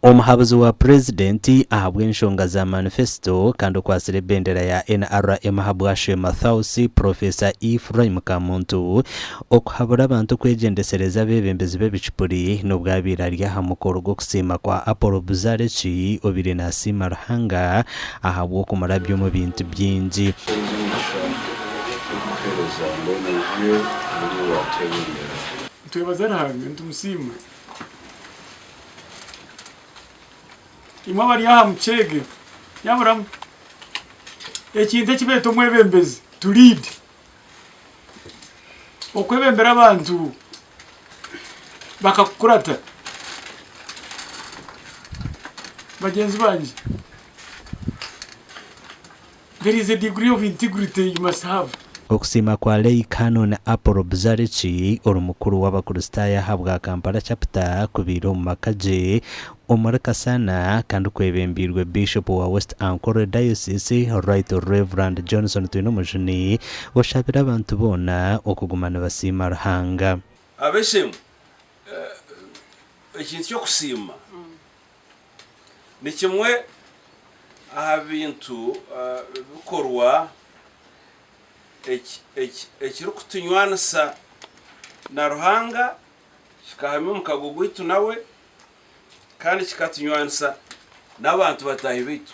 Omuhabuzi wa Purezidenti ahabw'enshonga za manifesito kandi okwatsire ebendera ya NRM ahabwa Sheema Thausi, Purofesa Ephraim Kamuntu, okuhabura abantu kwegyendesereza abeebembezi b'ebicupuri n'obwabaire ari aha mukoro gw'okusiima kwa Apollo Buzareki obaire naasiima Ruhanga ahabw'okumurabya omu bintu bingi. Enyigisha y'okuheereza mbwenu niyo buri owateerondera. Nitwebaza Ruhanga nitumusiima Imwe abari aha muceege nyaburamu ekintu eki beeta omwebembezi to lead okwebembera abantu bakakukurata bagyenzi bangye. There is a degree of integrity you must have. Okusiima kwa Lay Canon Apollo Buzariki, ori mukuru w'Abakristaayo aha bwa Kampala Chapter, kubaire omu maka gye omuri Kasana kandi kwebembeirwe Bishop wa West Ankole Diocese Right Rev. Johnson Twinomujuni, oshabire abantu boona okuguma nibasiima Ruhanga. Abeshembwa ekintu ky'okusiima. Ni kimwe aha bintu bikorwa ekirikutunywanisa na Ruhanga, kikahamya omukago gwaitu nawe, kandi kikatunywanisa n'abantu bataahi baitu.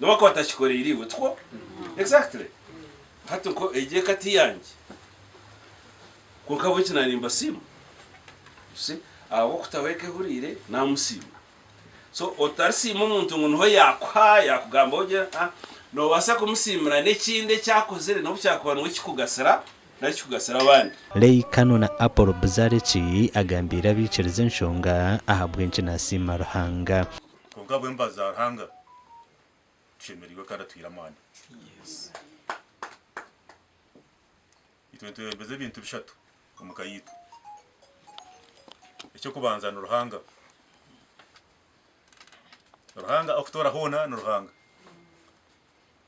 Noba akaba atakikoreire iwe, tikwo? Exactly. Hati nko egi eka ti yangye. Kwonka ahabw'enki na nimbasiima? You see? Ahabw'okutaho eka ehuriire, namusiima. So otarisiima omuntu ngu niho yakuha, yakugambaho gye, aa. Nobaasa kumusiimira n'ekindi eki akozire n'obu kyakuba niwe kikugasira nari kikugasira abandi. Leigh Cannon na Apollo Buzariki agambiire abaikiriza enshonga ahabw'enki nasiima Ruhanga. Kwonka ahabw'embabazi za Ruhanga tushemereirwe kandi atuhaire amaani. Itwe nitwebembeza ebintu bishatu omu ka yaitu. Eky'okubanza ni Ruhanga. Ruhanga orikutoora hoona ni Ruhanga.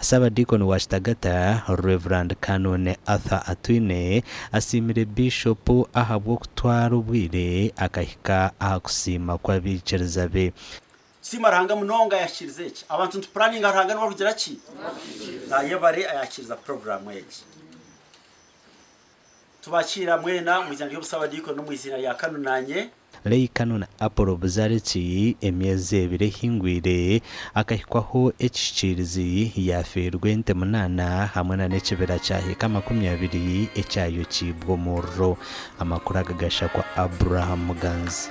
Ssaabadiikoni wa Kitagata, Rev. Canon Arthur Atwine, asiimire Biishopu ahabw'okutwara obwire akahika aha kusiima kw'abaikiriza be. Siima Ruhanga munonga ayakirize eki. Abantu nitupuraninga Ruhanga niwe arikugira ki? Ayebare ayakiriza puroguraamu egi. Tubakiira mwena omu izina ry'obusabadiikoni n'omu izina rya Kanu naanye. Lehi Kanu na Apolo Buzariki, emyezi ebiri ehingwire, akahikwaho ekishikiirizi, yaafiirwa ente munaana hamwe na n'ekibira kya hiika makumi abiri ekyayokiibwe omuriro. Amakuru aga gasha kwa Abraham Muganzi.